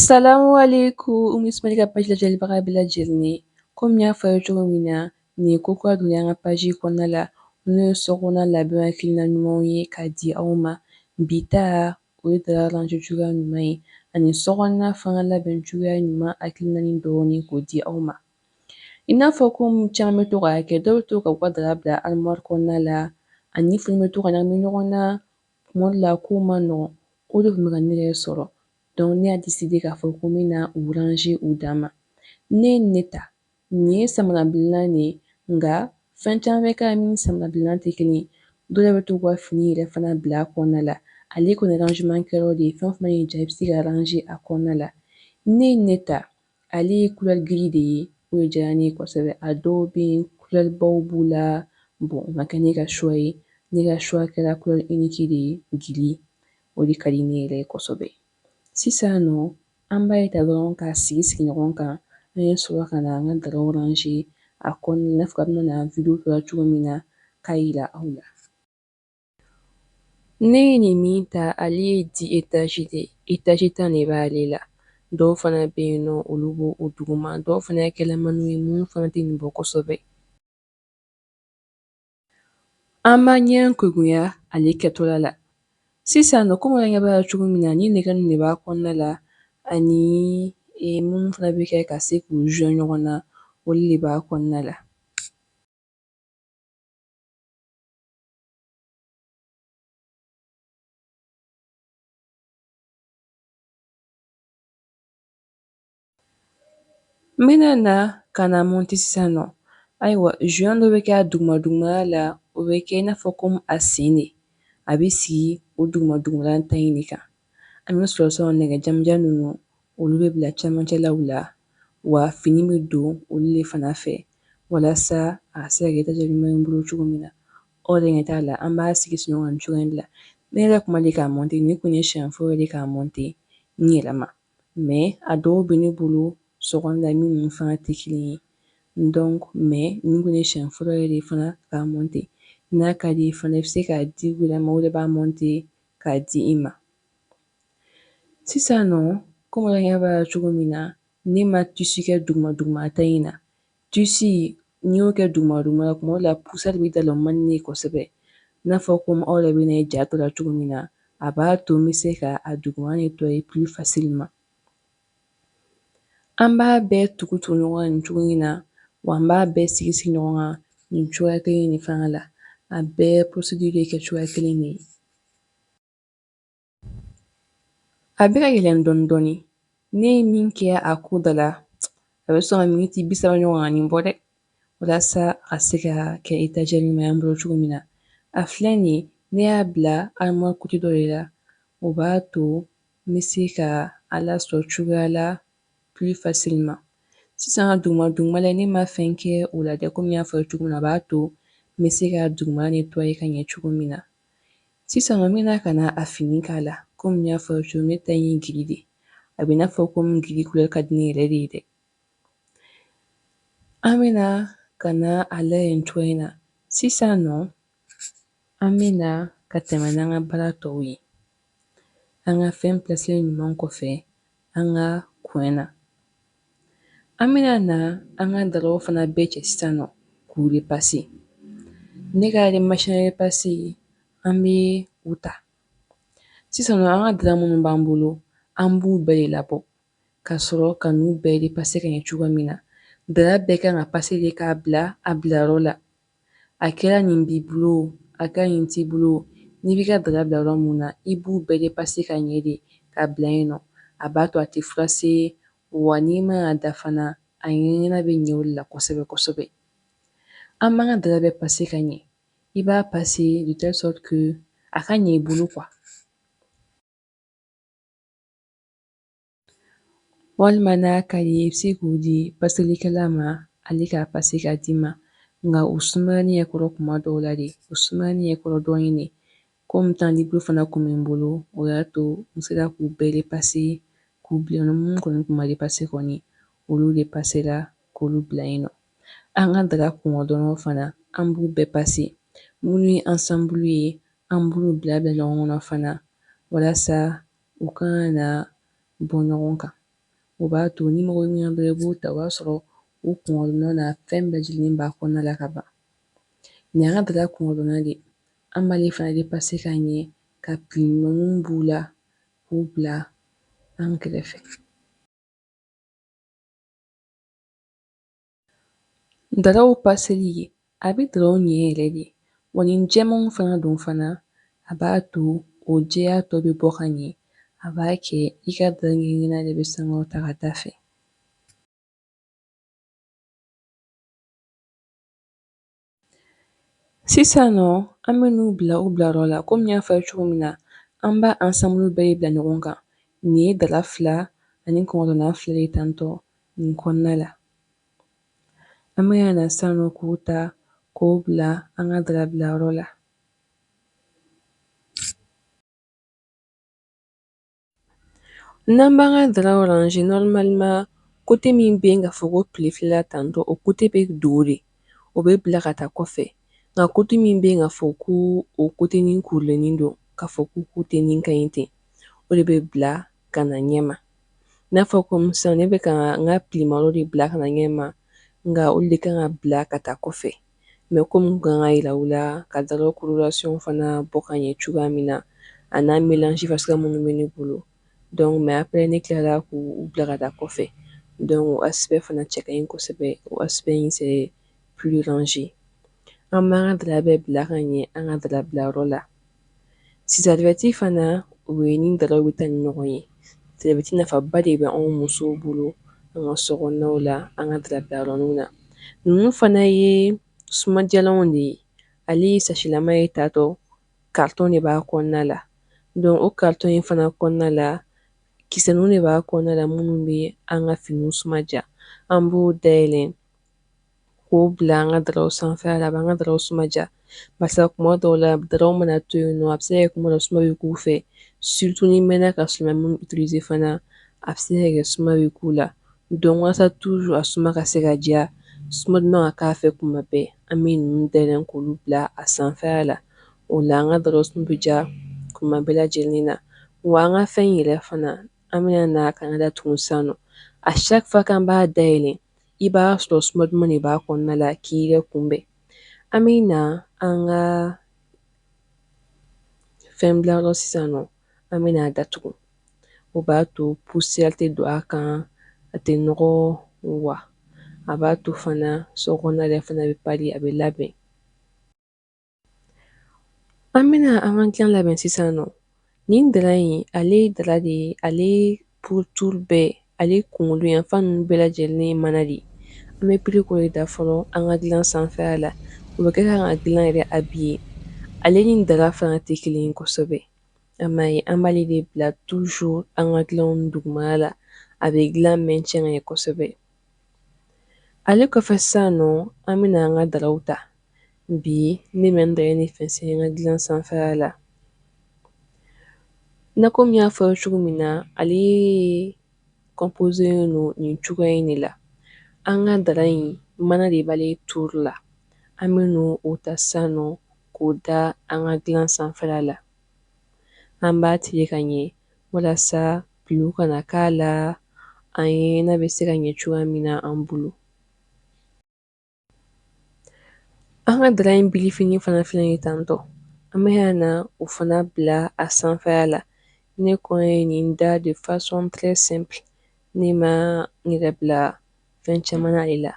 Salamuwalekun Umu Ismail ka paji lajɛlibaga bɛɛ lajɛlen komi n y'a fɔ aw ye cogo min na nin ye ko kura donna an ka paji kɔnɔna la n'o ye sokɔnɔna labɛn hakilina ɲumanw ye k'a di aw ma bi ta o ye dara range cogoya ɲuman ye ani sokɔnɔna fana labɛn cogoya ɲuman hakilinani dɔɔni k'o di aw ma i n'a fɔ ko caman bɛ to k'a kɛ dɔw bɛ to ka u ka dara bila armoire kɔnɔna la ani fini bɛ to ka ɲagami ɲɔgɔn na Tuma dɔ la kow man nɔgɔn, o de tun bɛ ka ne yɛrɛ sɔrɔ donc ne y'a décider k'a fɔ ko n bɛna u ranger u dan ma. Ne ye ne ta, nin ye samarabilennan de ye nka fɛn caman bɛ k'a min ni samarabilennan tɛ kelen ye, dɔw yɛrɛ bɛ t'u ka fini yɛrɛ fana bila a kɔnɔna la, ale kɔni rangement kɛyɔrɔ de ye, fɛn o fɛn y'i diya i bɛ se ka ranger a kɔnɔna la. Ne ye ne ta. Ale ye couleur gris de ye o de diyara ne ye kosɛbɛ a dɔw bɛ yen couleur baw b'u la bon o ma kɛ ne ka choix ye ne ka choix kɛra couleur unique de ye gris o de ka di ne yɛrɛ ye kosɛbɛ sisan nɔ an b'a ye ta dɔrɔn k'a sigi sigi ɲɔgɔn kan an ye sɔrɔ ka na an ka daraw ranger a kɔnɔna i n'a fɔ a bɛna na video tɔ la cogo min na k'a yira aw la Ne ye nin min ta ale ye dix étages de étage tan de b'ale la dɔw fana bɛ yen nɔ olu b'o o duguma dɔw fana ye kɛlɛmani ye minnu fana tɛ nin bɔ kosɛbɛ an ma ɲɛ kɛcogoya ale kɛtɔla la sisan nɔ komi an ɲɛ b'a la cogo min na ni nɛgɛ ninnu de b'a kɔnɔna la ani e, minnu fana bɛ kɛ ka se k'u joint ɲɔgɔn na olu de b'a kɔnɔna la N bɛna na ka na mɔnte sisan nɔ ayiwa joint dɔ bɛ kɛ a duguma dugumala la o bɛ kɛ i n'a fɔ komi a sen de a bɛ sigi o duguma dugumala ta in de kan an bɛ sɔrɔ sɔrɔ nɛgɛ janmanjan ninnu olu bɛ bila cɛmancɛlaw la wa fini bɛ don olu de fana fɛ walasa a se ka kɛ étagère ɲuman ye n bolo cogo min na aw de ɲɛ t'a la an b'a sigi sigi ɲɔgɔn kan nin cogoya la ne yɛrɛ kun ma deli k'a mɔnte nin kun ye siɲɛ fɔlɔ de k'a mɔnte n yɛrɛ ma mais a dɔw bɛ ne bolo sokɔnɔna la minnu fana tɛ kelen ye donc mais nin kun ye siɲɛ fɔlɔ yɛrɛ de fana k'a mɔnte n'a ka d'i ye fana i bɛ se k'a di u yɛrɛ ma o de b'a mɔnte k'a di i ma sisan nɔ kɔmi an ɲɛ b'a la cogo min na ne ma tissu kɛ duguma duguma ta in na tissu n'i y'o kɛ duguma duguma la kuma la poussière bɛ d'a la o man di ne ye kosɛbɛ n'a fɔ komi aw yɛrɛ bɛna a ye ja tɔ la cogo min na a b'a to n bɛ se ka a duguma nettoyer plus facilement an b'a bɛɛ tugu tugu ɲɔgɔn na nin cogo in na wa an b'a bɛɛ sigi sigi ɲɔgɔn kan nin cogoya kelen de fana la a bɛɛ procédure bɛ kɛ cogoya kelen de ye A bɛ ka yɛlɛn dɔɔnin dɔɔnin ne ye min kɛ a ko da la a bɛ sɔn ka miniti bi saba ɲɔgɔnna nin bɔ dɛ walasa a se ka kɛ étagère ɲuman ye an bolo cogo min na a filɛ nin ne y'a bila armoire côté dɔ de la o b'a to n bɛ se ka a lasɔrɔ cogoya la plus facilement sisan ka duguma dugumala ne ma fɛn kɛ o la dɛ komi n y'a fɔ cogo min na a b'a to n bɛ se ka dugumala nettoyer ka ɲɛ cogo min na Sisan nɔ n bɛna ka na a fini k'a la komi n y'a fɔ aw ye cogo ne ta in ye gris de ye a bɛ i n'a fɔ komi gris couleur ka di ne yɛrɛ de ye dɛ an bɛna ka na a lajɛ nin cogo in na sisan nɔ an bɛna ka tɛmɛ n'an ka baara tɔw ye an ka fɛn plasilen ɲuman kɔfɛ an ka coin na an bɛna na an ka daraw fana bɛɛ cɛ sisan nɔ k'u repasser ne ka machine à repasser an bɛ u ta sisan nɔ an ka dara minnu b'an bolo an b'u bɛɛ de labɔ ka sɔrɔ ka n'u bɛɛ repasser ka ɲɛ cogo min na dara bɛɛ kan ka passer de k'a bila a bilayɔrɔ la a kɛra nin b'i bolo a kɛra nin t'i bolo n'i b'i ka dara bila yɔrɔ mun na i b'u bɛɛ repasser ka ɲɛ de k'a bila yen nɔ a b'a to a tɛ froisser wa n'i mana a da fana a ɲɛɲɛna bɛ ɲɛ o la kosɛbɛ kosɛbɛ an b'an ka dara bɛɛ passer ka ɲɛ i b'a passer de telle sorte que a ka ɲɛ i bolo quoi Walima n'a ka d'i ye i bɛ se k'u di paselikɛla ma ale k'a passer k'a d'i ma nka o sumaya ne ɲɛ kɔrɔ kuma dɔw la de o sumaya ne ɲɛ kɔrɔ dɔɔnin de komi temps libre fana tun bɛ n bolo o y'a to n sera k'u bɛɛ repasser k'u bila minnu kɔni tun ma repasser kɔni olu repasera k'olu bila yen nɔ an ka dara kunkɔrɔdonna fana an b'u bɛɛ passer minnu ye ensemble ye an b'olu bila bila ɲɔgɔn kɔnɔ fana walasa U kana na bɔ ɲɔgɔn kan. O b'a to ni mɔgɔ nana dɔrɔn i b'o ta, o b'a sɔrɔ u kunkɔrɔdonna n'a fɛn bɛɛ lajɛlen b'a kɔnɔna la ka ban. Nin y'an ka dara kunkɔrɔdonna de ye. An b'ale fana repasser ka ɲɛ, ka pili ɲuman minnu b'u la, k'u bila an kɛrɛfɛ. Daraw paseli ye a bɛ daraw ɲɛ yɛrɛ de wa ni jɛmanw fana don fana a b'a to o jɛya tɔ bɛ bɔ ka ɲɛ a b'a kɛ i ka dara cɛɲa de bɛ sankɔrɔta ka taa a fɛ Sisan nɔ an bɛ n'u bila u bilayɔrɔ la kɔmi n y'a fɔ a ye cogo min na an b'a ansanbulu bɛɛ bila ɲɔgɔn kan nin ye dara fila ani kunkɔrɔdonna fila ye tantɔ nin kɔnɔna la an bɛ na sisan nɔ k'o ta k'o bila an ka dara bilayɔrɔ la N'an b'an ka dara ranger normalement kote min bɛ yen k'a fɔ ko pili filɛla tantɔ o kote bɛ dogo de o bɛ bila ka taa kɔfɛ nka kote min bɛ yen k'a fɔ ko o kote nin kurulenin don k'a fɔ ko kote nin ka ɲi ten o de bɛ bila ka na ɲɛma n'a fɔ kɔmi sisan ne bɛ ka n ka pilimaro de bila ka na ɲɛma nka olu de kan ka bila ka taa kɔfɛ mɛ kɔmi n kun kan k'a yira u la ka daraw coloration fana bɔ ka ɲɛ cogoya min na a n'a mélange fasuguya minnu bɛ ne bolo dɔnku mɛ après ne kilala k'u bila ka taa kɔfɛ dɔnku o aspect fana cɛ ka ɲi kosɛbɛ o aspect in c'est plus rangé an b'an ka dara bɛɛ bila ka ɲɛ an ka dara bilayɔrɔ la serviette fana o ye ni daraw bɛ taa ni ɲɔgɔn ye serviette nafaba de bɛ anw musow bolo an ka sokɔnɔnaw la an ka dara bilayɔrɔninw na ninnu fana ye sumadiyalanw de ye ale sasilama ye tatɔ karitɔn de b'a kɔnɔna la don o karitɔn in fana kɔnɔna la kisɛninw de b'a kɔnɔna la minnu bɛ an ka finiw suma diya an b'o day K'o bila an ka daraw sanfɛ a b'an ka daraw suma diya barisa kuma dɔw la daraw mana to yen nɔ a bɛ se ka kɛ kuma dɔ suma bɛ k'u fɛ surtout ni mɛnna ka si ma utiliser fana a bɛ se ka kɛ suma bɛ k'u la dɔnku walasa toujours a suma ka se ka diya suma duman ka k'a fɛ kuma bɛɛ an bɛ ninnu dayɛlɛ k'olu bila a sanfɛla la o la an ka daraw suma bɛ diya kuma bɛɛ lajɛlen na wa an ka fɛn in yɛrɛ fana an bɛna na k'a datugu sa à chaque fois k'an b'a day i b'a sɔrɔ suma duman de b'a kɔnɔna la k'i yɛrɛ kunbɛn an bɛ na an ka fɛn bilayɔrɔ sisan nɔ an bɛ n'a datugu o b'a to poussière tɛ don a kan a tɛ nɔgɔ wa a b'a to fana sokɔnɔna yɛrɛ fana bɛ pari a bɛ labɛn An bɛna an ka gilan labɛn sisan nɔ nin dara in ale ye dara de ye ale pourtour bɛɛ ale kunkolo yanfan ninnu bɛɛ lajɛlen ye mana de ye an bɛ piri k'o de da fɔlɔ an ka gilan sanfɛla la o bɛ kɛ k'an ka gilan yɛrɛ habiller ale ni dara fana tɛ kelen ye kosɛbɛ a m'a ye an b'ale de bila toujours an ka gilanw dugumana la a bɛ gilan maintien ka ɲɛ kosɛbɛ ale kɔfɛ sisan nɔ an bɛna an ka daraw ta bi ne bɛ n dara nin fɛnsɛ n ka dilan sanfɛla la ne komi n y'a fɔ cogo min na ale composé don nin cogoya in de la an ka dara in mana de b'ale tour la an bɛn'o ta sisan nɔ k'o da an ka dilan sanfɛla la an b'a tilen ka ɲɛ walasa pli kana k'a la an ye n'a bɛ se ka ɲɛ cogoya min na an bolo An ka dara in bilifini fana filɛ ye tantɔ an bɛna na o fana bila a sanfɛya la ne kɔn ye nin da de façon très simple ne ma n yɛrɛ bila fɛn caman na ale la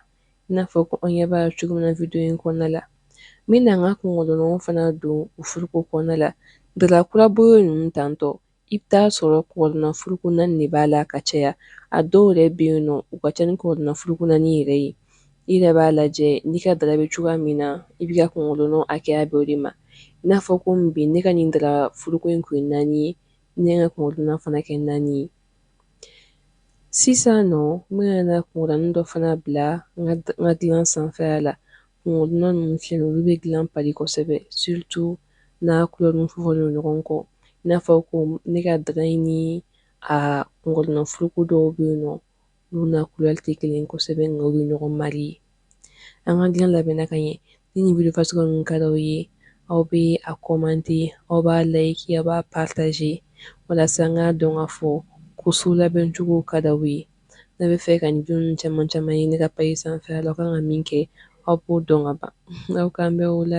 i n'a fɔ ko an ɲɛ b'a cogo min na video in kɔnɔna la n bɛna n ka kɔngɔdonnanw fana don u furuko kɔnɔna la dara kura bɔ ninnu tantɔ I bɛ taa a sɔrɔ kɔngɔdonnan furuko naani de b'a la ka caya a dɔw yɛrɛ bɛ yen nɔ u ka ca ni kɔngɔdonnan furuko naani yɛrɛ ye i yɛrɛ b'a lajɛ n'i ka dara bɛ cogoya min na i b'i ka kɔngɔdonnanw hakɛya bɛn o de ma i n'a fɔ komi bi ne ka nin dara furuko in kɔn ye naani ye ne ka kɔngɔdonnan fana kɛ naani ye sisan nɔ n bɛna na kɔngɔdonnan dɔ fana bila n ka dilan sanfɛya la Kɔngɔdonnan ninnu filɛ olu bɛ dilan parer kosɛbɛ surtout n'a couleur fɔlen don ɲɔgɔn kɔ i n'a fɔ ko ne ka dara in ni a kɔngɔdonnan furuko dɔw bɛ yen nɔ olu n'a couleur tɛ kelen ye kosɛbɛ nka u bɛ ɲɔgɔn marier an ka dilan labɛnna ka ɲɛ ni nin video fasuguya ninnu ka d'aw ye aw bɛ a commenter aw b'a liker aw b'a partager walasa n k'a dɔn k'a fɔ ko so labɛncogo ka d'aw ye. n'aw b'a fɛ ka video ninnu caman caman ye ne ka page sanfɛ la aw ka kan ka min kɛ aw b'o dɔn ka ban aw k'an bɛn o la